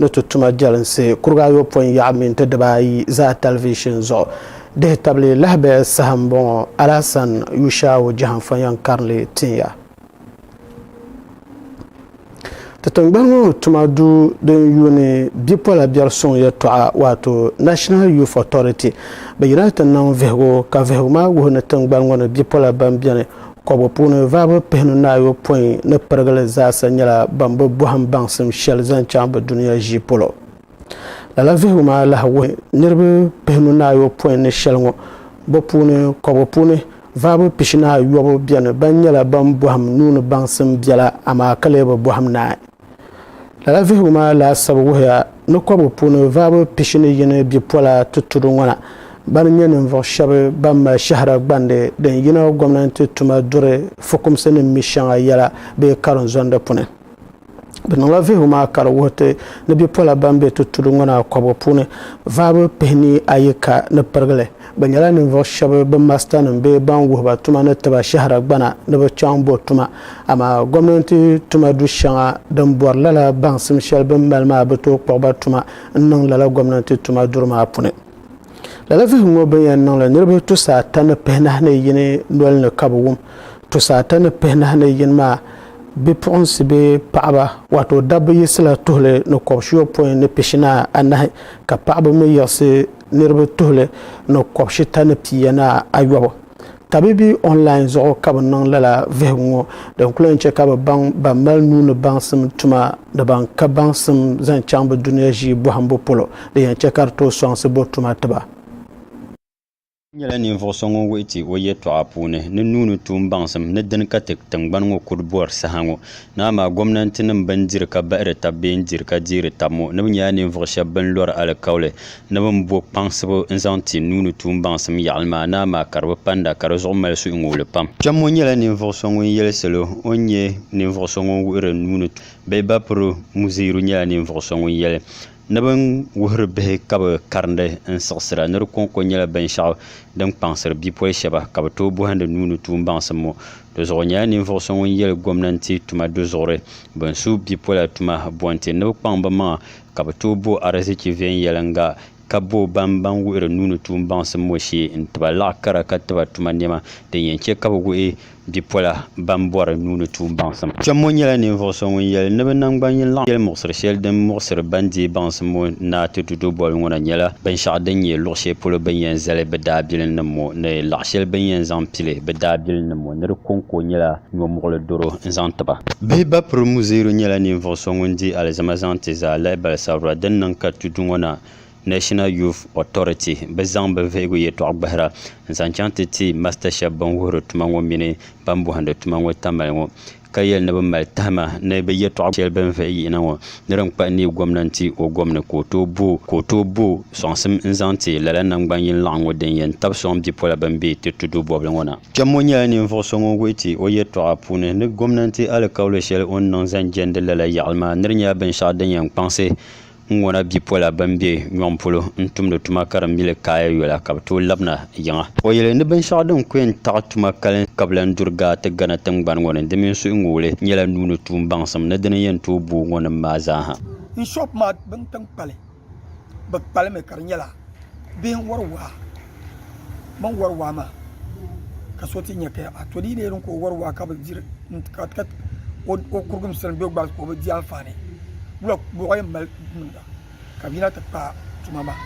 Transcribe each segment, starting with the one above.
ni ti tuma jɛlinsi kuriga ayɔpɔin yaɣa mini ti dibaayi zaa tɛlivishin zuɣu dihi tabili lahabaya saha m-bɔŋɔ Alasan Yushau Jahanfɔnyɛn Karili Tinya. Ti tingbani ŋɔ tuma duu din yuuni bipola biɛri suŋ yɛltɔɣa waato National Youth Authority bɛ yina ti niŋ vihigu ka vihigu maa wuhi ni tingbani ŋɔ ni bipola ban beni kɔbigu puuni vaabu pihinu ni ayopɔin ni pirigili zaasa nyɛla ban bi bɔhim baŋsim shɛli zaŋ chaŋ bɛ dunia ʒii polo. Lala vihigu maa lahi wuhi niriba pihinu ni ayopɔin ni shɛli ŋɔ bɛ puuni kɔbigu puuni vaabu pishi ni ayɔbu beni ban nyɛla ban bɔhim nuu ni baŋsim biɛla amaa ka lee bi bɔhim naai. Lala vihigu maa laasabu wuhiya ni kɔbigu puuni vaabu pishi ni yini bipola tutudu ŋɔ na ban nyɛ ninvuɣ shɛba ban mali shɛhira gbandi din yina gomnanti tuma duri fukumsi ni mi shɛŋa yɛla bee karinzondi puni. Bɛ niŋla vihigu maa ka di wuhi ti ni bipola ban be tutudu ŋɔ naa kɔbigu puuni vaabu pihinii ayi ka ni pirigi li. Bɛ nyɛla ninvuɣ shɛba bɛ masitanim bee ban wuhi ba tuma ni ti ba shɛhira gbana ni bɛ chaŋ bo tuma. Amaa gomnanti tuma du shɛŋa din bɔri lala baŋsim shɛli bɛ ni mali maa bi tooi kpuɣi ba tuma n-niŋ lala gomnanti tuma duri maa puni. Lala vihigu ŋɔ bɛ ni yɛn niŋ li niriba tusaa ata ni pihinahi ni yini noli ni ka bɛ wum. Tusaa ata ni pihinahi ni yini maa bipuɣinsi bee paɣiba, waato dabba yiɣisila tuhili ni kɔbishiyɔpɔin ni pishinaa anahi ka paɣiba mi yiɣisi niriba tuhili ni kɔbishita ni pia ni ayɔbu. Tabibi online zuɣu ka bɛ niŋ lala vihigu ŋɔ din kuli yɛn chɛ ka bɛ baŋ ban mali nuu ni baŋsim tuma ni ban ka baŋsim zaŋ chaŋ bɛ dunia ʒii bɔhimbu polo din yɛn chɛ ka di tooi sɔŋsi bɔ tuma ti ba. N nyɛla ninvuɣ so ŋun wuhi ti o yɛtɔɣa puuni ni nuu ni tuum baŋsim ni dini ka ti tiŋgbani ŋɔ kuli bɔri saha ŋɔ ni amaa gomnantinim bɛn diri ka bahiri tab bee n-diri ka deeri tab ŋɔ ni bɛ nyɛla ninvuɣ shɛb bɛn lɔri alikauli ni bɛ ni bo kpaŋsibu n-zaŋ ti nuu ni tuun baŋsim yaɣili maa naa maa ka di bi panda ka di zuɣu mali suhuŋuubili pam. Kpɛmmo nyɛla ninvuɣ so ŋun yɛli salo o ni nyɛ ninvuɣ so ŋun wuhiri nuu ni tuun bee Bapuru Muziiru nyɛla ninvuɣ so ŋun yɛli ni bɛ ni wuhiri bihi ka bɛ karindi n-siɣisira ni di kɔŋko nyɛla binshɛɣu din kpaŋsiri bipoli shɛba ka bɛ tooi bɔhindi nuu ni tuun baŋsim ŋɔ dozuɣu o nyɛla ninvuɣ so ŋun yɛli gomnanti tuma dozuɣuri bɛ ni su bipola tuma bo nti ni bɛ kpaŋ bɛ maŋa Ka bɛ tooi bo ariziki viɛnyɛliŋga, ka bo ban ban wuhiri nuuni tuun baŋsim ŋɔ shee n-ti ba laɣ kara ka ti ba tuma nɛma, din yɛn chɛ ka bɛ wuhi bipola ban bɔri nuuni tuun baŋsim. Kpɛmmo nyɛla ninvuɣ so ŋun yɛli ni bɛ naŋgban yini laɣ yɛlimuɣisiri shɛli din muɣisiri ban deei baŋsim ŋɔ naa ti du do boli ŋɔ na nyɛla binshɛɣu din nyɛ luɣ shɛli polo bɛ ni yɛn zali bɛ daabilinnim ŋɔ ni laɣ shɛli bɛ ni yɛn zaŋ pili bɛ daabilinnim ŋɔ ni di kɔŋko nyɛla yɔmuɣili doro n-zaŋ ti ba. Bihi Bapiri Muzeeru nyɛla ninvuɣ so ŋun di alizama zaŋ ti zaalahi balisabira din niŋ ka tudu ŋɔ na National Youth Authority bi zaŋ bɛ vihigu yɛtɔɣa gbahira n-zaŋ chaŋ ti ti masita shɛba bɛn wuhiri tuma ŋɔ mini bɛn bɔhindi tuma ŋɔ tamali ŋɔ ka yɛli ni bɛ mali tahima ni bɛ yɛtɔɣa shɛli bɛn vihi yihi na ŋɔ ni din kpahi neei gomnanti o gomni ka o tooi bo sɔŋsim n-zaŋ ti lala naŋgban yini laɣingu din yɛn tabi sɔŋ bipola bɛn be ti tudu bɔbili ŋɔ na. Kpɛm ŋɔ nyɛla ninvuɣ so ŋun wuhi ti o yɛtɔɣa puuni ni gomnanti alikauli shɛli o ni niŋ zaŋ jɛndi lala yaɣili maa ni di nyɛla binshɛɣu din yɛn kpaŋsi ŋuna bipola bɛn be nyɔŋ polo n-tumdi tuma ka di mi li kaaya yola ka bɛ tooi labina yiŋa. O yɛli ni binshɛɣu din ku yɛn taɣi tuma kalinsi ka bɛ lan duri gaa ti Ghana tiŋgbani ŋɔ ni di mini suhuŋuɣili nyɛla nuu ni tuun baŋsim ni dini yɛn tooi booi ŋɔ nim maa zaa ha. Bishop maa bin tiŋ kpali. bɛ kpali mi ka di nyɛla bihi n-wari waa bɛ ni wari waa maa ka so ti nya ka a to di yi leei din ka o wari waa ka bi diri ka o kurigi m-sili be o gbaŋ ka o bi di anfaani wula bɔɣu yɛn mali niŋda ka bɛ yina ti paai tuma maa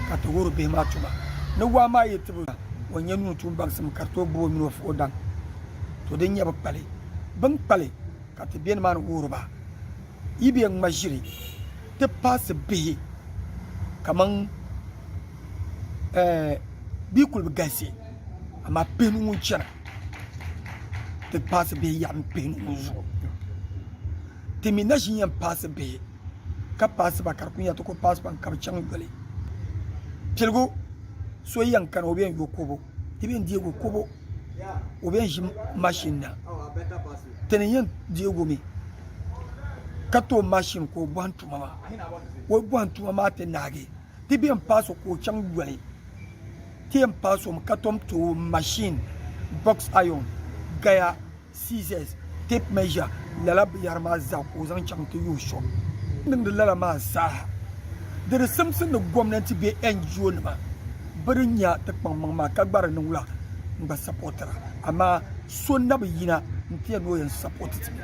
ka ti wuhiri bihi maa tuma ni waa maa yi tibi a o nya nuu tuun baŋsim ka di tooi gbubi o mini o fuɣ o daŋ to din nyɛ bɛ kpali bɛ ni kpali ka ti be nimaani wuhiri ba. yi bɛ ŋma ʒiri ti paɣisi bihi kaman ɛɛh bɛ yi kuli bi galisi amaa pihinu ŋun chana ti paɣisi bihi yaɣim pihinu ŋɔ zuɣu ti mi na ʒi yɛn paɣisi bihi ka paɣisi ba ka di kuli nyɛla ti kuli paɣisi ba mi ka bi chaŋ yoli piligu so yɛn kani o bɛ yɛn yo kɔbo ti bɛn deegi kobo o bɛn ʒi mashin na ti ni yɛn deegi o mi ka ti o mashin ka o bɔhim tuma maa o bɔhim tuma maa ti naagi ti bɛn paasi o ka o chaŋ yoli ti yɛn paasi o mi ka tom ti o mashin box iron gaya Scissors, tape measure, lala binyɛri maa zaa ka o zaŋ chaŋ ti yuui sɔŋ. Bɛ ni niŋdi lala maa zaaha, di di simsi ni gomnanti bee NGO nima bɛ di nya ti kpaŋmaŋ maa ka gba di niŋ la n-gba sapotira. Amaa so na bi yina n-ti ya ni o yɛn sapoti ti mi.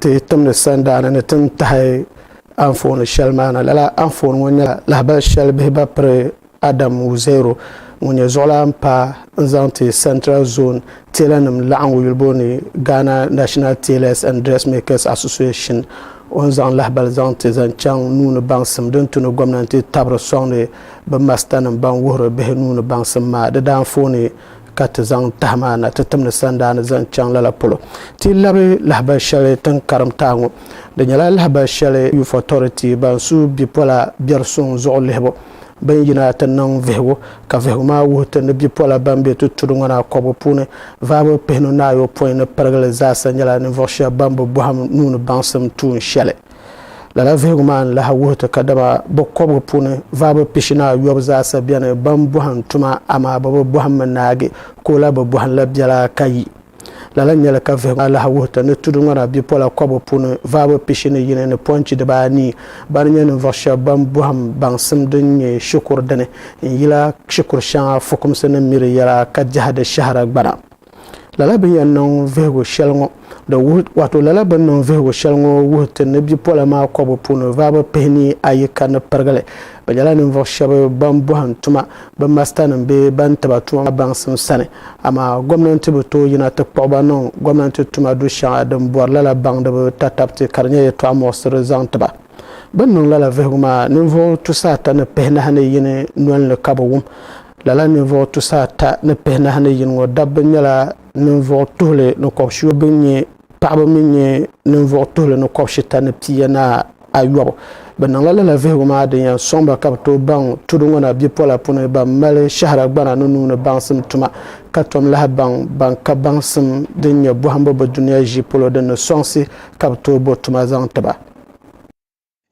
ti timdi sandaani ni ti ni tahi anfooni shɛli maa na lala anfooni ŋɔ nyɛla lahabali shɛli bihi ba piri Adam Wuzero ŋun nyɛ zuɣulan pa n zaŋ ti Central Zone teelanim laɣingu yulibo ni Ghana National Tailors and Dressmakers Association o ni zaŋ lahabali zaŋ ti zaŋ chaŋ nuuni baŋsim din tu ni gomnanti tabiri sɔŋdi bɛ masitanim ban wuhiri bihi nuuni baŋsim maa di daanfooni ka ti zaŋ tahi maa na ti timdi sandaa ni zaŋ chaŋ lala polo. Ti labi lahabali shɛli ti ni karim taai ŋɔ. Di nyɛla lahabali shɛli Youth Authority ban su bipola biɛri suŋ zuɣu lihibu bini yina ti niŋ vihigu ka vihigu maa wuhi ti ni bipola ban be ti tudu ŋɔ na kɔbigu puuni vaabu pihinu ni ayopɔin ni pirigili zaasa nyɛla ninvuɣu shɛba ban bi bɔhim nuu ni baŋsim tuun shɛli. Lala vihigu maa ni lahi wuhi ti ka dama bɛ kɔbigu puuni vaabu pishini ayɔbu zaasa beni ban bɔhim tuma amaa bɛ bi bɔhim mi naagi ka o lahi bi bɔhim la biɛla ka yi. Lala n-nyɛ li ka vihigu maa lahi wuhi ti ni tudu ŋɔna bipola kɔbigu puuni vaabu pishini yini ni pɔnchi dibaa anii bani nyɛ ninvuɣ shɛba ban bɔhim baŋsim din nyɛ shikuru dini n-yila shikuru shɛŋa fukumsi ni miri yɛla ka jɛhidi shɛhira gbana. Lala bɛ ni yɛn niŋ vihigu shɛli ŋɔ di wuhi, wato lala bɛ ni niŋ vihigu shɛli ŋɔ wuhi ti ni bipola maa kɔbu puuni vaabu pihini ayi ka ni pirigili bɛ nyɛla ninvuɣ shɛb bɛn bɔhim tuma bɛ masitanim bee bɛn ti ba tuma maa baŋsim sani, amaa gomnanti bi tooi yina ti kpuɣi ba niŋ gomnanti tuma du shɛŋa din bɔri lala baŋdiba tatabiti ka di nyɛ yɛtɔɣ muɣisiri zaŋ ti ba. Bɛ ni niŋ lala vihigu maa, ninvuɣ tusa ata ni pihinahi ni yini nol ni ka bɛ wum. Lala ninvuɣ tusa ata ni pihinahi ni yini ŋɔ dabba nyɛla ninvuɣ tuhili ni kɔb shio bɛn nyɛ paɣiba mi nyɛ ninvuɣ tuhili ni kɔb shita ni pia ni ayɔbu. Bɛ niŋla lala vihigu maa din yɛn sɔŋ ba ka bɛ tooi baŋ tudu ŋɔ na bipola puni bɛn mali shɛhira gbana ni nuu ni baŋsim tuma ka tom lahi baŋ bɛn ka baŋsim din nyɛ bɔhimbu bɛ dunia ʒii polo din ni sɔŋsi ka bɛ tooi bo tuma zaŋ ti ba.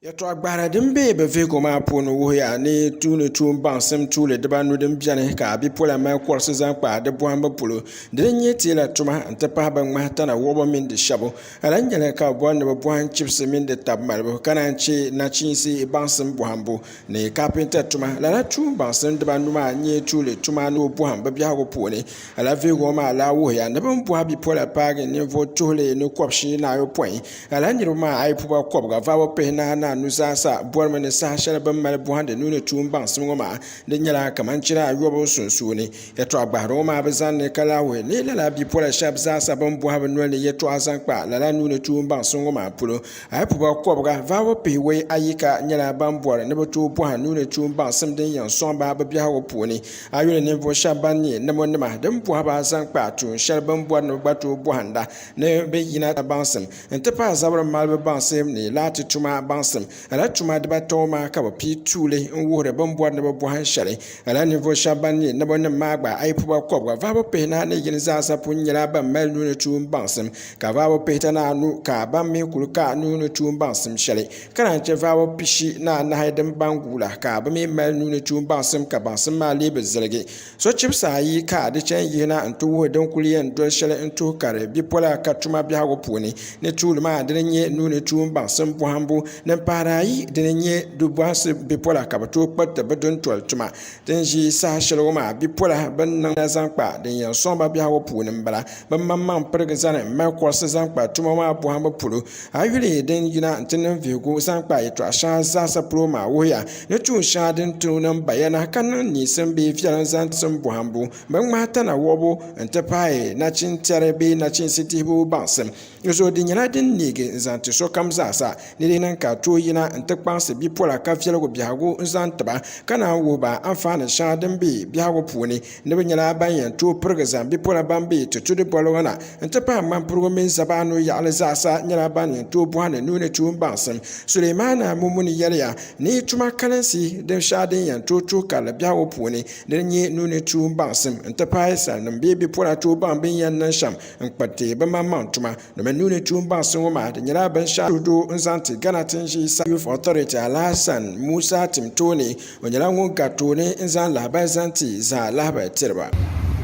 Yɛltɔɣa gbahira din be bɛ vihigu maa puuni wuhiya ni tuuni tuun baŋsim tuuli dibaanu din beni ka a bipola mali kɔrisi zaŋ kpa di bɔhimbu polo di ni nyɛ teela tuma n ti pahi bɛ ŋmahi tana wuɣibu mini di shɛbu ka lahi nyɛli ka bɛ bɔri ni bɛ bɔhim chibisi mini di tabi malibu ka naan che nachiinsi baŋsim bɔhimbu Ni kapinta tuma, lala tuun baŋsim dibanu maa n-nyɛ tuuli tuma ni o bɔhim bɛ biɛhigu puuni. Lala vihigu ŋɔ maa lahi wuhiya ni bɛ ni bɔhi bipola paagi ninvuɣ tuhili ni kɔb'shii ni ayopɔin. Lala niriba maa a yi puba kɔbiga vabu pihinahi ni anu zaa sa bɔrimi ni saha shɛli bɛ ni mali bɔhindi nuuni tuun baŋsim ŋɔ maa di nyɛla kaman chira ayɔbu sunsuuni. Yɛtɔɣ gbahiri ŋɔ maa bi zani ni ka lahi wuhi ni lala bipola shɛb zaa sa bɛ ni bɔhi bɛ noli ni yɛtɔɣa zaŋ kpa lala nuuni tuun baŋsim ŋɔ maa polo. Ayopɔba kɔbiga vahibu pihiwei ayi ka nyɛla ban bɔri ni bɛ tooi bɔha nuuni tuun baŋsim din yɛn sɔŋ ba bɛ biɛhigu puuni. A yuli ninvuɣ shɛb ban nyɛ Namonima din bɔhi ba zaŋ kpa tuun shɛli bɛ ni bɔri ni bɛ gba tooi bɔhinda ni bɛ yina ti baŋsim nti pahi zabiri malibu baŋsim ni laati tuma baŋsim. Lala tuma dibata ŋɔ maa ka bɛ pii tuuli n-wuhiri bɛ ni bɔri ni bɛ bɔhi shɛli. Lala ninvuɣ shɛb ban nyɛ Namonim maa gba ayopɔba kɔbiga vahibu pihinahi ni yini zaasa pun nyɛla ban mali nuuni tuun baŋsim ka vaabo pihita ni anu ka ban mi kuli ka nuu ni tuun baŋsim shɛli ka naan chɛ vaabo pishi ni anahi din baŋ guula ka bɛ mi mali nuu ni tuun baŋsim ka baŋsim maa lee bi ziligi. Sochibisi ayi ka di chɛ n-yihi na nti wuhi din kuli yɛn doli shɛli n-tuhi kari bipola ka tuma biɛhigu puuni ni tuuli maa dini n-nyɛ nuu ni tuun baŋsim bɔhimbu din pahiri ayi dini n-nyɛ du bɔhisi bipola ka bɛ tooi kpiriti bɛ duntoli tuma Ti ni ʒi saha shɛli ŋɔ maa, bipola bɛn niŋ la zaŋ kpa din yɛn sɔŋ ba biɛhigu puuni m-bala. Bɛ maŋmaŋ pirigi zani m-mali kɔrisi zaŋ kpa tuma maa bɔhimbu polo. A yuli din yina nti niŋ vihigu zaŋ kpa yɛtɔɣ shɛŋa zaasa polo maa wuhiya ni tuun shɛŋa din ti niŋ bayana ka niŋ niisim bee viɛlim zaŋ tim bɔhimbu, binŋmahi tana wuhibu nti pahi nachintɛri bee nachiinsi dihibu baŋsim. Dinzuɣu di nyɛla din neegi n zaŋ ti sokam zaasa ni di niŋ ka tooi yina n ti kpaŋsi bipola ka viɛligu biɛhigu n zaŋ tiba ka naan wuhi ba anfaani shɛŋa din be biɛhigu puuni ni bɛ nyɛla ban yɛn tooi pirigi zaŋ bipola ban be ti tudi boli ŋɔ na n ti pahi ŋmanpirigu mini zabaanu yaɣili zaasa nyɛla ban yɛn tooi bɔhi ni nuuni tuun baŋsim. Sulemaana Mumuni yɛliya ni tuma kalinsi din shɛhi din yɛn tooi tuhi karili biɛhigu puuni dini n-nyɛ nuuni tuun baŋsim n ti pahi salinim bee bipola tooi baŋ bɛ ni yɛn niŋ shɛm n kpa ti bi maŋ maŋ tuma domin nuuni tuun baŋsi ŋɔ maa di nyɛla binshaɣu suhudu n zaŋ ti Ghana tin ʒii sa Youth Authority Alahasan Musa tim tooni o nyɛla ŋun gari tooni n zaŋ lahabali zaŋ ti zaa lahabali tiriba.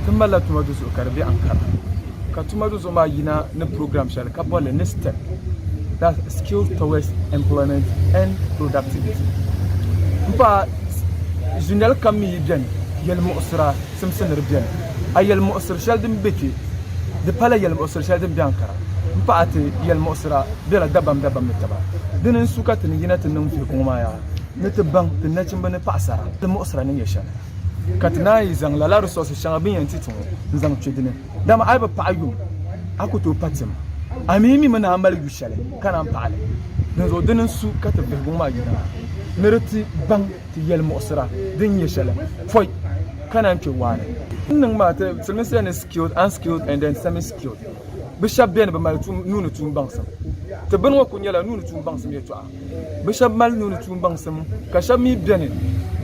Ti malila tuma du zuɣu ka di be Ankara ka tuma du zuɣu maa yina ni program shɛli ka boli li ni step that's Skills Towards Employment and Productivity m paai zunyɛli kam mi yi beni yɛlimuɣisira simsiniri beni, a yɛlimuɣisiri shɛli din be kpe, di pala yɛlimuɣisiri shɛli din be Ankara m-pahi ti yɛlimuɣisira bela dabam dabam ni taba. Dini n-su ka ti ni yina ti niŋ viligu ŋɔ maa yaa ni ti baŋ ti nachimba ni paɣisara yɛlimuɣisira ni nyɛ shɛli ka ti naan yi zaŋ lala resources shɛŋa bɛ ni yɛn ti ti ŋɔ n-zaŋ kpe dini. Dama a yi bi paɣi yuŋ, a ku tooi pa tim. A mi mi mi ni a mali yu shɛli ka naan paɣi li. Dinzuɣu dini n-su ka ti viligu ŋɔ maa yina ni di ti baŋ. ti yɛlimuɣisira din nyɛ shɛli pɔi ka naan kpe waa ni. N niŋ maa ti siliminsila ni skilled, unskilled and then semi-skilled. Bɛ shɛba beni bɛ mali nuu ni tuun baŋsim. Ti bini ŋɔ kuli nyɛla nuu ni tuun baŋsim yɛtɔɣa. Bɛ shɛba mali nuu ni tuun baŋsim ka shɛba mi beni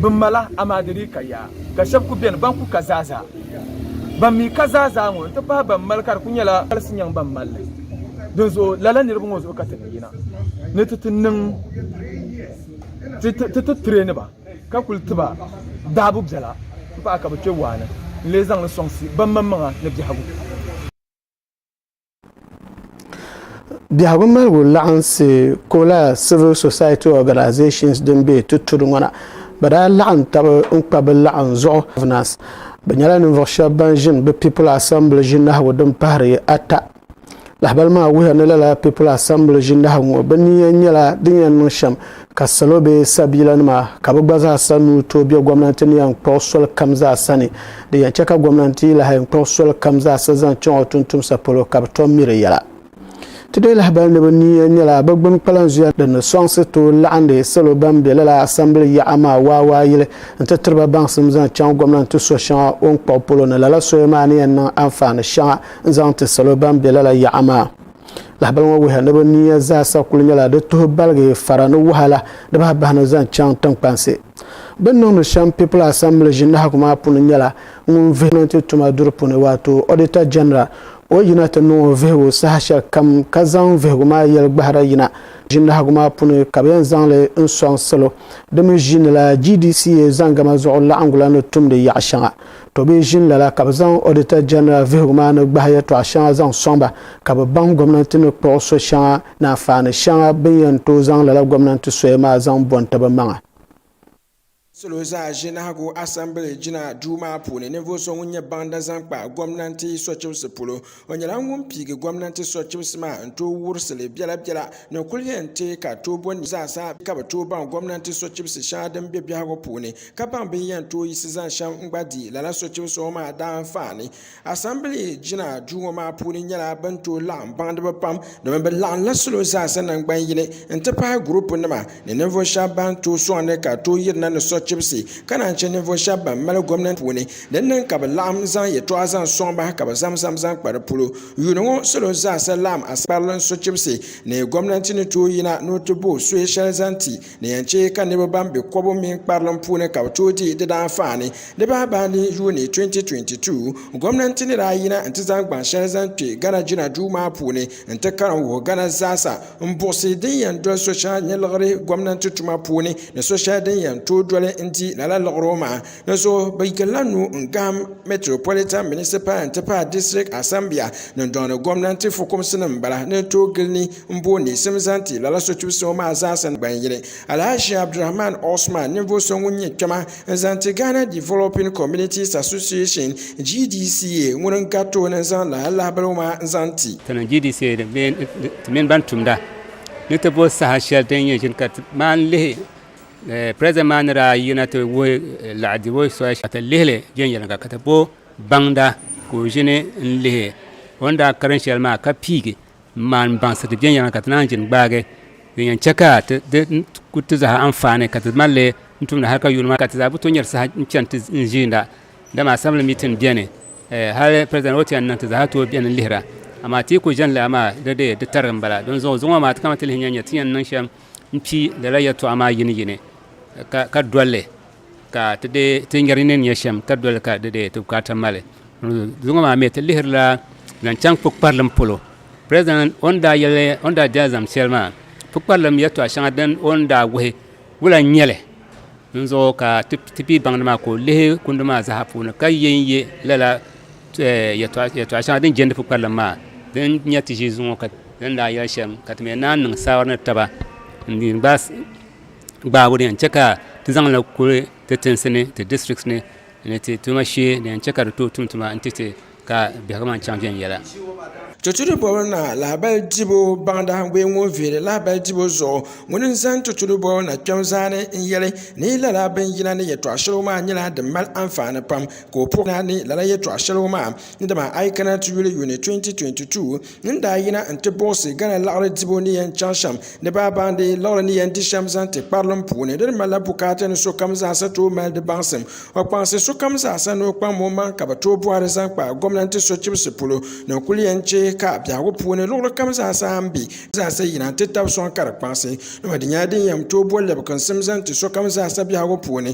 bɛ mala amaa di dii ka yaa. Ka shɛba kuli beni ban kuli ka zaazaa. Ban mi ka zaazaa ŋɔ n-ti pahi ban mali ka di kuli nyɛla galisi nyaŋ ban mali li. Dinzuɣu lala niriba ŋɔ zuɣu ka ti ni yina ni ti ti niŋ. Ti ti traini ba ka kuli ti ba daabu biɛla m-pahi ka bɛ kpe waa ni n-lee zaŋ li sɔŋsi bɛmaŋmaŋa ni biɛhigu. Biɛhigu maligu laɣinsi Kola Civil Society Organisations din be Tutudu ŋɔ na, bɛ daa laɣim tab n-kpa bɛ laɣim zuɣu Governors. Bɛ nyɛla ninvuɣ shɛb bɛn ʒini bɛ People Assembly ʒinahigu din pahiri ata. Lahabali maa wuhiya ni lala People Assembly ʒindahi ŋɔ bɛ ni yɛn nyɛla din yɛn niŋ shɛm ka salo bee sabiilanima ka bɛ gba zaa sa nuu tooi be gomnanti ni yɛn kpuɣi soli kam zaa sa ni. Din yɛn chɛ ka gomnanti yi lahi kpuɣi soli kam zaa sa zaŋ chaŋ o tuntumsa polo ka bɛ tom mi di yɛla. Ti deei lahabali ni bɛ ni yɛn nyɛla bɛ gbuni kpalanzuya din ni sɔŋsi tooi laɣindi salo ban be lala Assembly yaɣa maa waawaayili n-ti tiri ba baŋsim zaŋ chaŋ gomnanti so shɛŋa o ni kpuɣi polo ni lala soya maa ni yɛn niŋ anfaani shɛŋa n zaŋ ti salo ban be lala yaɣa maa. Lahabali ŋɔ wuhiya ni bɛ niya zaasa kul nyɛla di tuhi baligi fara ni wahala di bahi bahi ni zaŋ chaŋ tiŋkpansi. Bɛ ni niŋdi shɛm People Assembly ʒinahigu maa puuni nyɛla ŋun vihi gɔnmenti tuma duri puuni waato Auditor General ka o yina ti niŋ o vihigu saha shɛli kam ka zaŋ vihigu maa yɛli gbahira yina ʒinahigu maa puuni ka bɛ yɛn zaŋ li n-sɔŋ salo di mi ʒiinila GDCA zaŋgama zuɣu laɣiŋgu la ni tumdi yaɣ shɛŋa. To bɛ ʒini lala ka bɛ zaŋ Auditor General vihigu maa ni gbahi yɛltɔɣa shɛŋa zaŋ sɔŋ ba ka bɛ baŋ gomnanti ni kpuɣi so shɛŋa ni anfaani shɛŋa bɛn yɛn tooi zaŋ lala gomnanti soya maa zaŋ bɔn ti bɛ maŋa. Salo zaa ʒinahigu Assembly jina duu maa puuni ninvuɣu so ŋun nyɛ baŋda zaŋ kpa gomnanti sochibisi polo. O nyɛla ŋun piigi gomnanti sochibisi maa n tooi wurisili biɛla biɛla ni kuli yɛn teei ka tooi bo niibu zaa sa ka bi tooi baŋ gomnanti sochibisi shɛŋa din be biɛhigu puuni ka baŋ bini yɛn tooi yiɣisi zaŋ shɛm n gba di lala sochibisi ŋɔ maa daanfaani. Asambili jina duu ŋɔ maa puuni nyɛla bini tooi laɣim baŋdiba pam domin bi laɣimla salo zaa sa nangban yini n ti pahi gurupu nima ni ninvuɣu shɛba ban tooi sɔŋdi ka tooi yirina ni sochibisi ka naan che ninvuɣu shɛba ban mali gomnanti puuni Di niŋ ka bɛ laɣim zaŋ yɛtɔɣa zaŋ sɔŋ ba ka bɛ zamzam zaŋ kpa di polo. Yuuni ŋɔ salo zaasa laɣim Askarili n so chibisi ni gomnanti ni tooi yina ni o ti bo suhi shɛli zaŋ ti ni yɛn che ka niriba ban be kɔbu mini kparilim puuni ka bɛ tooi di di daanfaani. Di bahibaani yuuni 2022, gomnanti ni daa yina n ti zaŋ gbaŋ shɛli zaŋ kpe Ghana jina duu maa puuni n ti karim wuhi Ghana zaasa n buɣisi din yɛn doli so shɛŋa nyɛ liɣiri gomnanti tuma puuni ni so shɛli din yɛn tooi doli n di lala liɣiri o maŋa. Dinzuɣu bɛ yirila nuu n-gahim Metropolitan Municipal n-ti pahi District Asambia ni dɔŋdi gomnanti fukumsi nim m-bala ni n tooi gili ni m booi niɣisim zaŋ ti lala sotubu so maa zaa sa ni ban yili Alhaji Abdulrahman Osman ninvuɣu so ŋun nyɛ kpɛma n-zaŋ ti Ghana Developing Communities Association, GDCA, ŋuni n-gari tooni n-zaŋ lala lahabaligu maa n-zaŋ ti. Ti ni GDCA bee ti mini ban tumda ni ti bo saha shɛli din nyɛ ʒini ka ti maan lihi President maa ni daa yina ti wuhi laɣidibo soli ka ti lihili viɛnyɛliŋga ka ti bo baŋda ka o ʒini n-lihi o ni daa karim shɛli maa ka piigi m-maani baŋsiri viɛnyɛliŋga ka ti naan ʒini gbaagi din yɛn chɛ ka di ku ti zaa anfaani ka ti mali li n-tumdi hal ka yuuni maa ka ti zaa bi tooi nyari saha n-chani ti ʒiinda dama Assembly meeting beni hal President o ti yɛn niŋ ti zaa tooi beni lihira amaa Atiku ʒini li amaa di dee di tarigi m-bala dinzuɣu zuŋɔ maa ti kana ti lihi n-yɛn nya ti ni yɛn niŋ shɛm. m-pi lala yɛltɔɣa maa yini yini ka, ka doli li ka ti deei ti nyari ni nya shɛm, ka doli li ka di deei ti bukaata mali. Zuŋɔ maa mi ti lihirila zaŋ chaŋ kpukparilim polo. President o ni daa yɛli, o ni daa di alizam shɛli maa, kpukparilim yɛltɔɣa shɛŋa din o ni daa wuhi wula n-nyɛ li? Dinzuɣu ka ti, ti pii baŋdi maa ka o lihi kundi maa zaa puuni ka ye n-ye lala yɛtɔɣa shɛŋa din jɛndi pukparilim maa din nyɛ ti ʒii zuŋɔ ka din daa yɛli shɛm ka ti mii naan niŋ saawara ni taba n gbaagi o di yɛn chɛ ka ti zaŋla kuli ti tinsi ni ti district ni ni ti tuma shee din yɛn chɛ ka di tooi tum tuma n titɛ ka biɛhagu maa chɛŋ viɛnyɛla Tutudu bɔbu na lahabali dibu baŋdahigu ŋɔ viiri lahabali dibu zuɣu ŋuni n zaŋ tutudu bɔbu na kpɛm zaa ni n yɛli ni lala bin yina ni yɛtɔɣa shɛli ŋɔ maa nyɛla din mali anfaani pam ka o puhi ni lala yɛtɔɣa shɛli ŋɔ maa ni dama a yi kana ti yuli yuuni 2022 ni ni daa yina n-ti buɣisi Ghana liɣiri dibu ni yɛn chaŋ shɛm ni bɛ baandi liɣiri ni yɛn di shɛm zaŋ ti kparilim puuni di ni malila bukaata ni sokam zaasa tooi mali di baŋsim o kpaŋsi sokam zaasa ni o kpaŋm o maŋ ka bɛ tooi bɔhiri zaŋ kpa gomnanti sochibisi polo ni n kuli yɛn chɛ ka biɛhigu puuni luɣili kam zaasa m be zaasa yina n-ti tab sɔŋ ka di kpaŋsi dama di nyɛla din yɛn tooi bo lɛbiginsim zaŋ ti sokam zaasa biɛhigu puuni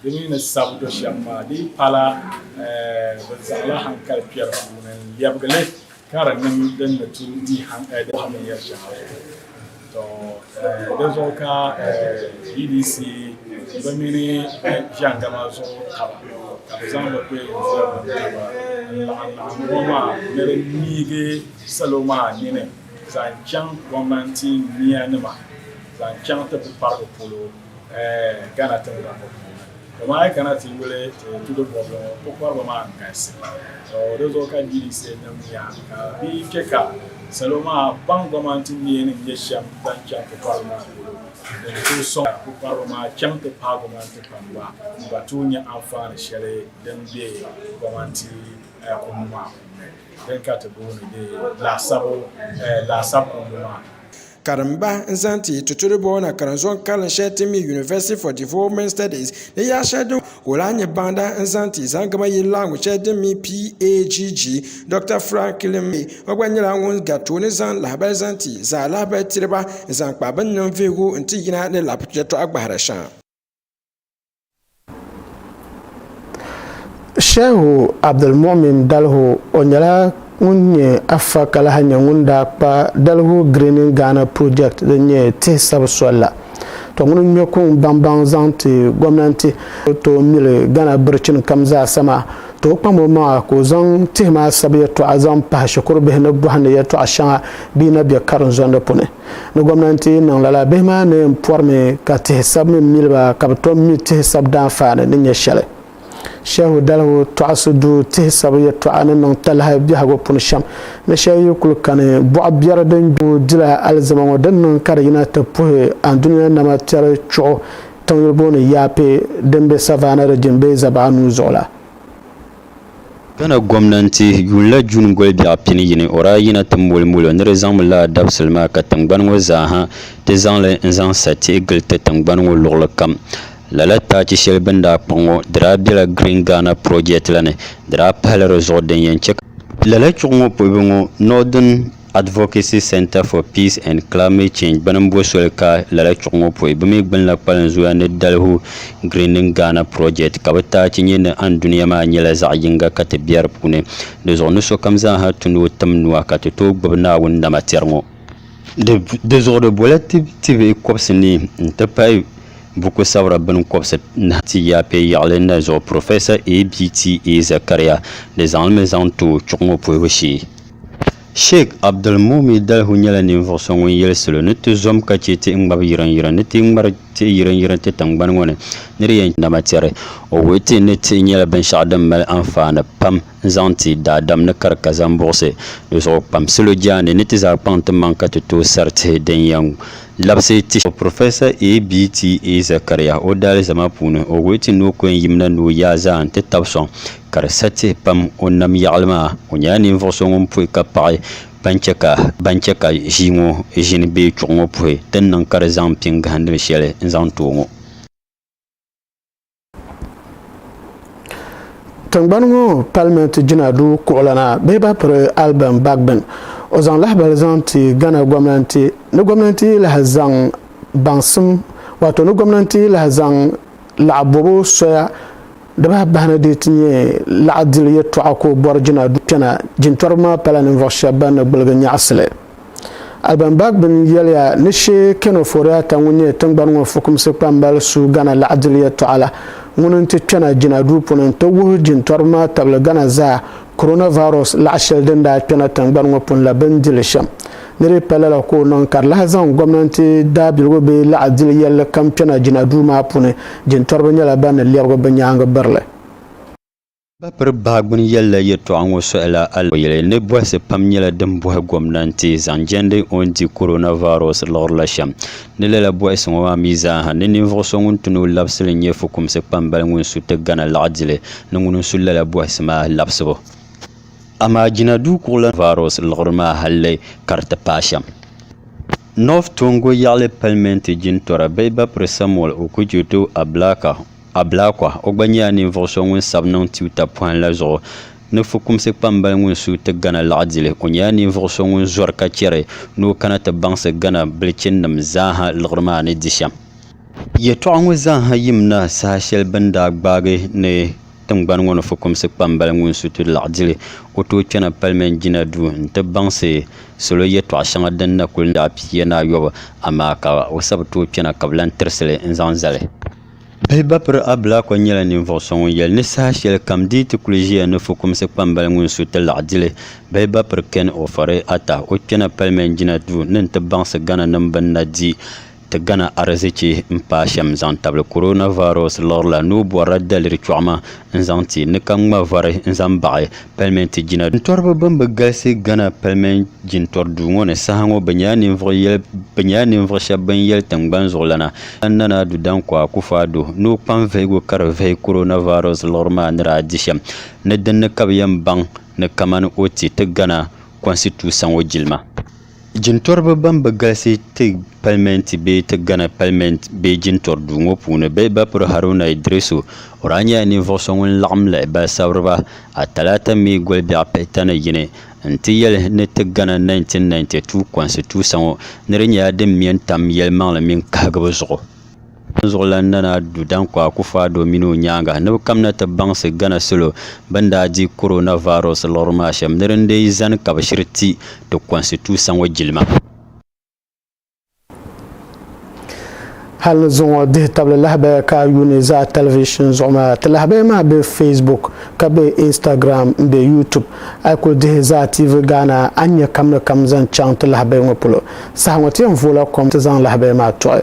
Di mi ni sab do shɛm maa di yi pala bɛ zaŋla hankali kpɛri puuni n-lɛbigi li ka di niŋ din ni tu di bɔhim binyɛr shɛŋa zuɣu. Tɔ! Di zuɣu ka GDC bɛ mini bɛ jɛndama zuɣu taba ka bɛ zaŋ bɛ kpeelinzɔrinim taba n-laɣimlaɣim ŋɔ maa ni di niigi salo maa nini zaŋ chaŋ gɔmnanti nianima zaŋ chaŋ ti bukparigu polo. Ghana tiŋgbani ŋɔ puuni. Dama a yi kana ti yuli ti tudo bɔbili ŋɔ pukpariba maa n-galisi. Di zuɣu ka GDC nim nya ka bɛ yi che ka salo maa baŋ gɔman ti neeni n-nyɛ shɛm ban chaŋ pukpariba maa polo ni di tooi sɔŋ ka pukpariba maa chaŋ ti paai gɔman ti kpam ba ni ba tooi nya anfaani shɛli din be gɔmanti kundi maa puuni din ka ti booni laasab kundi maa. Karimba n zaŋ ti tuturi bɔɔ na karinzɔŋ karili shɛli ti mi University for Development Studies ni yaa shɛli din ka o lahi nyɛ baŋda n zaŋ ti Zangama yili laɣingu shɛli din mi PAGG. Dɔkta Franklin May ŋɔ gba nyɛla ŋun gari tooni zaŋ lahabali zaŋ ti zaa lahabali tiriba n zaŋ kpa bini niŋ vihigu n ti yina ni lab yɛltɔɣa gbahira shɛŋa. Shehu Abdulmumin Dalho o nyɛla ŋun nyɛ afa ka lahi nyɛ ŋun daa kpa Dalho Greening Ghana Project din nyɛ tihi sabu soli la. To ŋuni ŋme kuŋ baŋbaŋ zaŋ ti gomnanti ni tooi mili Ghana birichin kam zaasa maa, tooi kpam o maŋa ka o zaŋ tihi maa sabu yɛltɔɣa zaŋ pahi shikuru bihi ni bɔhindi yɛltɔɣa shɛŋa bɛ yi na bɛ karinzondi puni. ni gomnanti niŋ lala bihi maa ni yɛn porimi ka tihi sab mini miliba ka bi tom mi tihi sab daanfaani ni nyɛ shɛli. Shehu Dalihu Tɔɣisi Duu tihi sabu yɛltɔɣa ni niŋ talahi biɛhigu puni shɛm ni shɛli yi kuli kani bɔɣ biɛri din gbooi dila alizama ŋɔ din niŋ ka di yina ti puhi Andunia nama tɛri chuɣu tiŋyuli booni Yape din be Savannah Region bee Zabaɣa nuu zuɣu la. Ghana gomnanti yuunila June goli biɛɣu pini yini o daa yina ti moli molo ni di zaŋmi laa dabisili maa ka tingbani ŋɔ zaaha ti zaŋ li n zaŋ sa tihi gili ti tingbani ŋɔ luɣili kam. Lala taachi sheli bini daa kpaŋ ŋɔ di daa bela Green Ghana Project la ni di daa pahila di zuɣu din yen che ka Lala chuɣu ŋɔ puhibu ŋɔ Northern Advocacy Centre for Peace and Climate Change bɛ ni bo soli ka lala chuɣu ŋɔ pɔi bɛ mi gbunila kpalin zoya ni Dalihu Greening Ghana Project ka bɛ taachi nyɛ ni andunia maa nyɛla zaɣ yiŋga ka ti bɛ di puuni. Di zuɣu ni sokam zaa ha tu ni o tim nua ka ti tooi gbubi Naawuni nama tɛri ŋɔ. Di zuɣu di bola ti ti bɛ kɔbisi ni n-ti pahi buku sabira bini kɔbisi nahi ti yaapɛ yaɣili na zuɣu Professor ABTA Zakaria di zaŋ li mi zaŋ ti o chuɣu ŋɔ pohibu shee. Sheik Abdulmuumi Dalhu nyɛla ninvuɣ so ŋun yɛli salo ni ti zom ka chɛ tihi ŋmabi yirinyirin ni ti ŋmari tihi yirinyirin ti tiŋgbani ŋɔ ni ni di yɛn dama tɛri. O wuhi ti ni tihi nyɛla binshɛɣu din mali anfaani pam n-zaŋ ti daadam ni kari ka zaŋ buɣisi di zuɣu kpam salo jaande ni ti zaa kpaŋ ti maŋ ka ti tooi sari tihi din yɛn labisi ti shɛm. Professor ABTA Zakaria o daalizama puuni, o wuhi ti ni o ku yɛn yimina ni o yaa zaa n-ti tab sɔŋ ka di sa tihi pam o nam yaɣili maa, o nyɛla ninvuɣ so ŋun puhi ka paɣi ban chɛ ka ban chɛ ka ʒii ŋɔ ʒini bee chuɣu ŋɔ puhi ti ni niŋ ka di zaŋ pini gahindimi shɛli n-zaŋ ti o ŋɔ. Tiŋgbani ŋɔ palimenti jina duu kuɣulana bee ba piri Alban Bagbin, o zaŋ lahibali zaŋ ti Ghana gomnanti ni gomnanti yi lahi zaŋ baŋsim waato ni gomnanti yi lahi zaŋ laɣa bobu soya, Di bahi bahi ni di ti nyɛ laɣa dili yɛltɔɣa ka o bɔri jina du kpɛna. Jintɔriba maa pala ninvuɣ shɛb bɛn ni gbuligi nyaɣisili. Alban Bagbin yɛliya ni Shee Ken Ofori-Atta ŋun nyɛ tiŋgbani ŋɔ fukumsi kpambali su Ghana laɣa dili yɛltɔɣa la, ŋuni n-ti kpɛna jina duu puuni n-ti wuhi jintɔriba maa tabili Ghana zaa Coronavirus laɣa sheli din daa kpena tingbani ŋɔ puuni la bini dili shem ni di pa lala ka o niŋ ka di lahi zaŋ gomnanti daabiligu bee laɣa dili yelli kam kpena jina duu maa puuni jintoriba nyela ban ni lebigi bɛ nyaangi birili. Ba piri bahi gbuni yelila yetɔɣa ŋɔ sohila Aliyele ni bohisi pam nyela din bohi gomnanti zaŋ jendi o ni di Coronavirus liɣiri la shem Ni lala bɔhisi ŋɔ maa mi zaa ha, ni ninvuɣ so ŋun ti ni o labisili n-nyɛ fukumsi kpambali ŋun su ti Ghana laɣidili ni ŋuni n-su lala bɔhisi maa labisibu. Amaa jina duu kuɣu la vaaros liɣiri maa halli ka di ti paai shɛm. North Tongo yaɣili palimɛnti jintɔra Bɛhiba Piri Samuel Okudzeto Ablakah, Ablakwa, o gba nyɛla ninvuɣ so ŋun sabi niŋ tiwuta pɔhim la zuɣu ni fukumsi kpambali ŋun suui ti Ghana laɣidili. O nyɛla ninvuɣ so ŋun zɔri ka chɛri ni o kana ti baŋsi Ghana bilichininim zaaha liɣiri maa ni di shɛm. Yɛtɔɣa ŋɔ zaaha yim na saha shɛli bɛ ni daa gbaagi ni tiŋgbani ŋɔ ni fukumsi kpambali ŋun suui ti laɣidili, o tooi kpɛna Palimɛnt jina duu nti baŋsi salo yɛtɔɣa shɛŋa din na kuli laɣ pihiya ni ayɔbu, amaa ka o sabi tooi kpɛna ka bɛ lan tirisi li n-zaŋ zali. Bihi Bapiri Ablakwa nyɛla ninvuɣ so ŋun yɛli ni saha shɛli kam di yi ti kuli ʒiya ni fukumsi kpambali ŋun su ti laɣ dili Bihi Bapiri Ken Ofori Atta o kpɛna palimen jina duu ni n-ti baŋsi Ghananim bɛ ni na di ti Ghana arizichi m-paai shɛm zaŋ tabili coronavirus liɣiri la ni o bɔrila daliri chɔɣima n zaŋ ti ni ka ŋma vari n zaŋ baɣi palimenti jina duu. Jintɔriba ban bi galisi Ghana palimenti jintɔri duu ŋɔ ni saha ŋɔ bɛ nyɛla ninvuɣu shɛba ban yɛli tiŋgbani zuɣulana Jan Nana Addo Dankwa Akuffo Addo ni o kpaŋ vihigu ka di vihi coronavirus liɣiri maa ni daa di shɛm ni dinni ka bɛ yɛn baŋ ni kamani o ti ti Ghana kɔnsituusa ŋɔ jilima. Jintɔriba ban bi galisi ti palimɛnti bee ti Ghana palimɛnti bee jintɔri duu ŋɔ puuni bɛ Bapuri Haruna Iddrisu, o daa nyɛla ninvuɣ so ŋun laɣim lahi ba sabiriba a talaata mi goli biɛɣu pihi tani yini n-ti yɛli ni ti Ghana 1992 kɔnsitusa ŋɔ ni di nyɛla din me n-tam yɛlimaŋli mini kahigibu zuɣu. Dinzuɣulan Nana Addo Dankwa Akufo-Addo mini o nyaaŋa ni bɛ kamina ti baŋsi Ghana salo bɛn daa di coronavirus liɣiri maa shɛm ni din dii zani ka bɛ shiri ti ti kɔnsituusa ŋɔ jilima. Hali zuŋɔ dihi tabili lahabaya ka a yuuni zaa tɛlivishin zuɣu maa. Ti lahabaya maa be Facebook, ka be Instagram, m-be YouTube. A yi kuli dihi zaa TV Ghana a ni nya kamina kam zaŋ chaŋ ti lahabaya ŋɔ polo. Saha ŋɔ ti yɛn vooi la kom ti zaŋ lahabaya maa tɔɣi.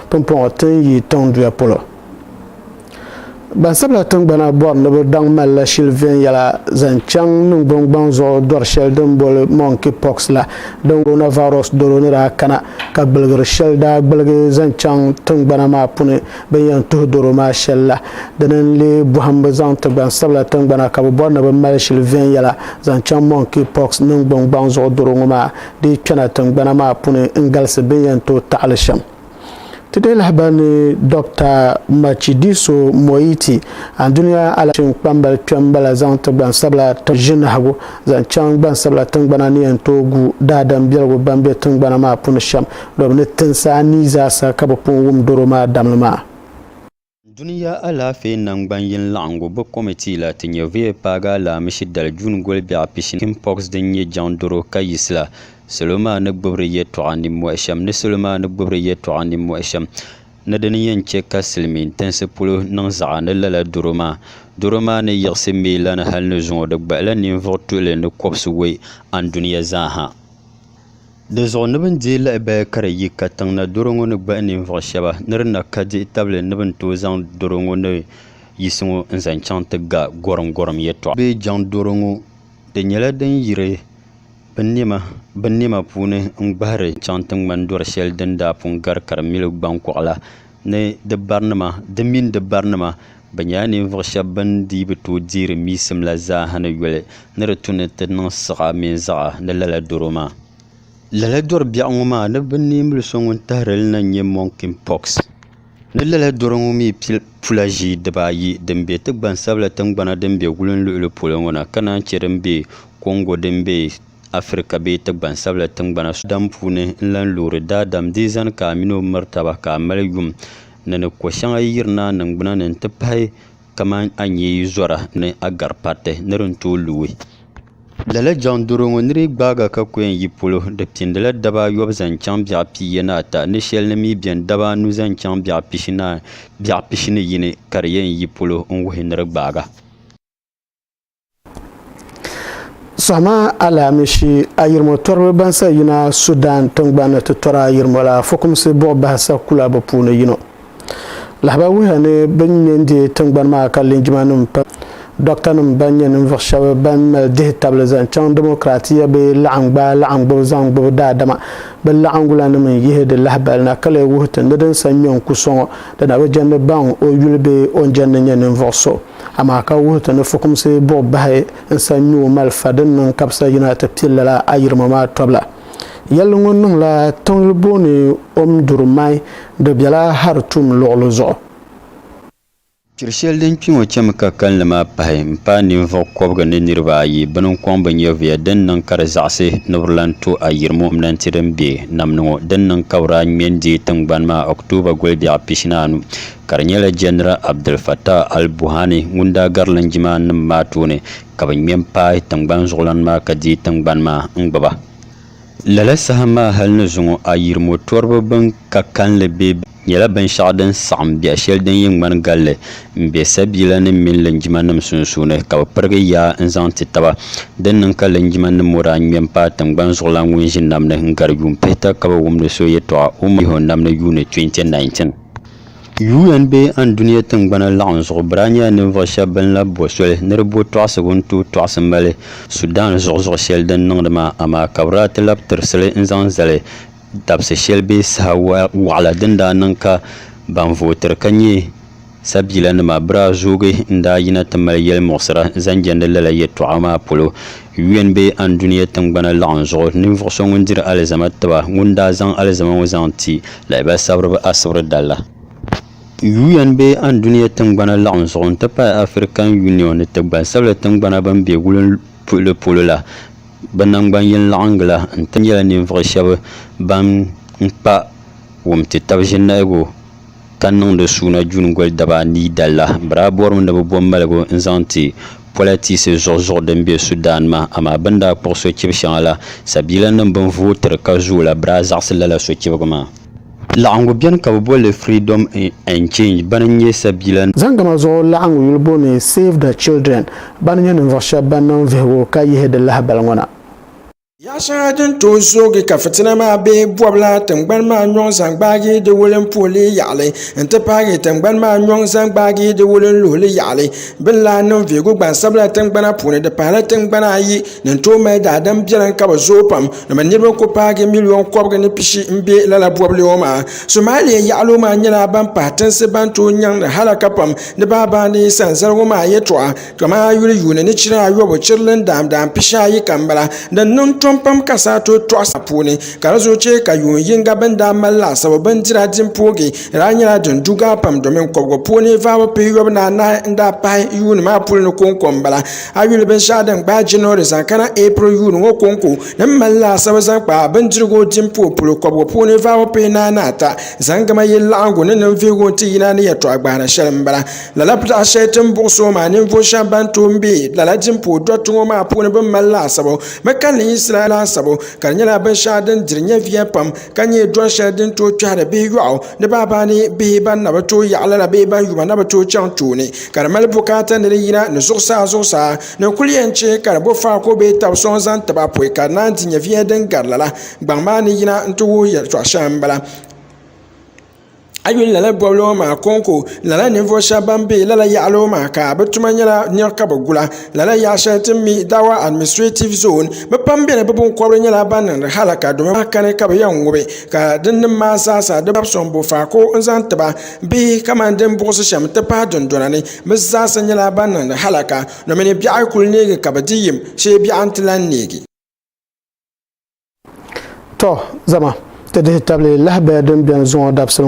Pumpɔŋɔ ti ni yi tiŋ duya polo. Gbansabila tingbana bɔri ni bɛ daŋ malila shili viɛnyɛla zaŋ chaŋ niŋgbuŋ gbaŋ zuɣu dɔri shɛli din boli monkey pox la din coronavirus doro ni daa kana ka gbiligiri shɛli daa gbiligi zaŋ chaŋ tingbana maa puni bɛn yɛn tuhi doro maa shɛli la. Dini n-leei bɔhimbu zaŋ ti gbansabila tingbana ka bɛ bɔri ni bɛ mali shili viɛnyɛla zaŋ chaŋ monkey pox niŋgbuŋ gbaŋ zuɣu doro ŋɔ maa dii kpɛna tingbana maa puni n-galisi bɛ ni yɛn tooi taɣili shɛm. Ti dii lahi ba ni Dɔkta Matshidiso Moeti, Andunia Alakyeŋ kpambali kpɛm m-bala zaŋ ti gbansabila ʒinahigu zaŋ chaŋ gbansabila tingbana ni yɛn tooi gu daadam biɛligu ban be tingbana maa puni shɛm, domi ni tinsi anii zaasa ka bɛ pun wum doro maa damli maa. Dunia Alaafee Naŋgban Yini Laɣingu bɛ Kɔmitii la ti nyɛ VA paagi alaamishi dali June goli biɛɣu pishini chicken pox din nyɛ jaŋ doro ka yisi la. Salo maa ni gbubi di yɛltɔɣa nimmɔhi shɛm ni salo maa ni gbubi di yɛltɔɣa nimmɔhi shɛm ni di ni yɛn chɛ ka silimiin tinsi polo niŋ zaɣa ni lala doro maa. Doro maa ni yiɣisi mii lana hali ni zuŋɔ di gbahila ninvuɣ tuɣili ni kɔbisiwei andunia zaa ha. Di zuɣu ni bɛn deei lahi baya ka di yi katiŋ na doro ŋɔ ni gbahi ninvuɣ shɛba ni di na ka dihi tabili ni bɛn tooi zaŋ doro ŋɔ ni yisi ŋɔ n-zaŋ chaŋ ti ga gɔrimgɔrim yɛtɔɣa bee jaŋ doro ŋɔ. Di nyɛla din yiri binnɛma binnɛma puuni n-gbahiri chaŋ ti ŋmani dɔri shɛli din daa pun gari ka di mili gbaŋkɔɣu la. ni di barinima di mini di barinima bɛ nyɛla ninvuɣ shɛb bɛn dii bi tooi deeri miisim la zaa ni yoli ni di tu ni ti niŋ siɣa mini zaɣa ni lala doro maa. Lala dɔri biɛɣu ŋɔ maa ni bɛ neei mili so ŋun tahiri li na n-nyɛ monkeypox. Ni lala doro ŋɔ mi pula ʒii dibaa ayi din be ti gbansabila tiŋgbana din be wulinluhili polo ŋɔ na ka naan chɛ din be Congo din be Afirika bee ti gbansabila tiŋgbana so dam puuni n-lan loori daadam di zani ka a mini o miri taba ka a mali yum ni ni ko shɛŋa yi yiri naa niŋgbuna ni n-ti pahi kamani a nyee yi zɔra ni a gari pariti ni din tooi luui. Lala jaŋ doro ŋɔ ni di gbaaga ka ko yɛn yi polo, di pindila daba ayɔbu zaŋ chaŋ biɛɣ piiye ni ata ni shɛli ni mi beni daba anu zaŋ chaŋ biɛɣ pishi ni biɛɣ pishi ni yini ka di yɛn yi polo n-wuhi ni di gbaaga. Sɔhima alaamishi ayirimo tɔriba ban sa yina Sudan tiŋgbani ti tɔri ayirimo la fukumsi buɣi bahi sa kula bi puuni yino. Lahabaya wuhiya ni bini nyɛ n-deei tiŋgbani maa ka linjimanim pam dɔktanim ban nyɛ ninvuɣ shɛb ban mali dihi tabili zaŋ chaŋ dimokiraatiya bɛ laɣim gbaai laɣim gbubi zaŋ gbubi daadama bɛ laɣiŋgulanim n-yihi di lahibali na ka lee wuhi ti ni din sa nyɔ n-ku sɔŋ o dina bi jɛndi baŋ o yuli bee o ni jɛndi nyɛ ninvuɣ so Amaa ka wuhi ti ni fukumsi buɣi bahi n-sa nyuo malifa din niŋ kabisa yina ti kpi lala ayirimo maa tɔbila. Yɛlli ŋɔ niŋla tiŋli booni Omdurman di bela Hartum luɣili zuɣu. Kpiri shɛli din kpi ŋɔ chemi ka kalinli maa pahi m-paai ninvuɣ kɔbiga ni niriba ayi bini n-kɔŋ bɛ nyɛvuya din niŋ ka di zaɣisi ni bɛ lan to ayirimo m-nanti din be Namni ŋɔ din niŋ ka bɛ daa ŋme n-deei tiŋgbani maa October guli biɛɣu pishinaanu ka di nyɛla Jɛnira Abdul Fattah al-Buhani ŋun daa gari linjima nim maa tooni ka bɛ ŋme m-paai tiŋgbani zuɣulana maa ka deei tiŋgbani maa n-gbubi ba. Lala saha maa hali ni zuŋɔ ayirimo tɔriba bɛn ka kalinli be nyɛla binshɛɣu din saɣim biɛh shɛli din yi ŋmani galli m-be sabiila nim mini linjima nim sunsuuni ka bɛ pirigi yaa n-zaŋ ti taba. Din niŋ ka linjima nim ŋɔ daa ŋme m-paai tiŋgbani zuɣulan ŋun ʒi nam ni n-gari yuun pihita ka bi wumdi so yɛtɔɣa Umar Iho nam ni yuuni 2019. UN bee Andunia Tingbana Laɣinzuɣu bira nyɛla ninvuɣu shɛba bɛn lahi bo soli ni di bo tɔɣisigu n-tooi tɔɣisi Mali, Sudan zuɣuzuɣu shɛli din niŋdi maa, amaa ka bɛ daa ti labi tirisili n-zaŋ zali dabisi shɛli bee saha waɣila din daa niŋ ka ban vootiri ka nyɛ sabiilanima bɛ daa zoogi n-daa yina ti mali yɛlimuɣisira zaŋ jɛndi lala yɛtɔɣa maa polo. UN bee Andunia Tingbana Laɣinzuɣu ninvuɣu so ŋun diri alizama tiba ŋun daa zaŋ alizama ŋɔ zaŋ ti Lahabali sabiriba asibiri dala. UN bee Andunia tiŋgbana laɣim zuɣu n-ti pahi African Union ni ti gbansabila tiŋgbana ban be wulim puhili polo la, bɛ naŋgban yini laɣingi la n-ti nyɛla ninvuɣu shɛba ban kpa wumtitab ʒinahigu ka niŋdi suuna juuni goli daba anii dala. Bɛ daa bɔrimi ni bɛ bo maligu n-zaŋ ti politisi zuɣuzuɣu din be Sudan maa, amaa bɛ ni daa kpuɣi sochibi shɛŋa la, sabiilanim bɛn vooi tiri ka zooi la, bɛ daa zaɣisi lala sochibigi maa. Laɣiŋgu beni ka bɛ boli li Freedom and Change bana n-nyɛ sabiila. Zaŋ gama zuɣu laɣiŋgu yuli booni Save the Children bana n-nyɛ ninvuɣ shɛba ban niŋ vihigu ka yihi di lahibali ŋɔ na. Yaɣ shɛŋa din tooi zoogi ka fitina maa be bɔbila tiŋgbani maa nyɔŋ zaŋ gbaagi di wulinpuhili yaɣili n-ti pahi tiŋgbani maa nyɔŋ zaŋ gbaagi di wulinluhili yaɣili bɛ ni lahi niŋ vihigu gbansabila tiŋgbana puuni di pahila tiŋgbana ayi din tooi mali daadam biɛlim ka bɛ zooi pam ni bɛ niriba kuli paagi miliyon kɔbiga ni pishi m-be lala bɔbili ŋɔ maa Somalia yaɣili maa nyɛla ban pahi tinsi ban tooi nyaŋdi halaka pam ni baa baani sanzaligu maa yɛltɔɣa. Kama a yuli yuuni ni chiri ayɔbu, chirili n daam daam pishi ayi kam m-bala. Din niŋ tom pam ka saa tooi tɔɣi sa puuni, ka di zuɣu chɛ ka yuun yiŋga bɛn daa mali laasabu bindira din poogi daa nyɛla din du gaa pam domin kɔbigu puuni vaabu pihiyɔbu ni anahi n daa pahi yuuni maa puli ni kɔŋko m-bala. A yuli binshɛɣu din gbaai January zaŋ kana April yuuni ŋɔ kɔŋko ni m-mali laasabu zaŋ kpa bindirigu din pooi polo kɔbigu puuni vaabu pihinahi ni ata zaŋ gama yili laɣingu ni ninvuhigu n-ti yina ni yɛtɔɣa gbahira shɛli m-bala. Lala pitaɣa shɛli ti ni buɣi so maa ninvuɣu shɛba ban tooi m-be lala dimpuhi dɔriti ŋɔ maa puuni bɛ ni mali laasabu bɛ kalinli yiɣisila laasabu ka di nyɛla binshɛɣu din diri nyɛviya pam ka nyɛ dɔr shɛli din tooi kpɛhiri bihi yɔɣu ni baaba ni bihi ban na bi tooi yaɣi lala bee ban yuma na bi tooi chaŋ tooni ka di mali bukaata ni di yina ni zuɣusaa zuɣusaa ni n kuli yɛn chɛ ka di bo faako bee tab sɔŋ zaŋ tib a pɔi ka di naan di nyɛviya din gari lala gbaŋ maa ni yina nti wuhi yɛltɔɣ shɛŋa m-bala. A yuli lala bɔbili ŋɔ maa kɔŋko lala ninvuɣu shɛba ban bɛ lala yaɣali ŋɔ maa ka bi tuma nyɛla niɣi ka bi gula lala yaɣa shɛli ti ni mi dawa administretiv zoon bi pam bɛni bi binkɔbiri nyɛla ban niŋdi halaka domi bi lahi kani ka bi yɛn ŋubi ka din nim maa zaa sa di babi sɔŋ bɔfako n zaŋ ti ba bee kamani din buɣisi shɛm n ti pahi dundɔna ni bi zaa sa nyɛla ban niŋdi halaka domi ni biɛɣu kuli neegi ka bi di yim shee biɛɣu n ti lahi neegi. Tɔ! Zama ti dihi tabili lahibaya din beni zuŋɔ dabisili ŋɔ.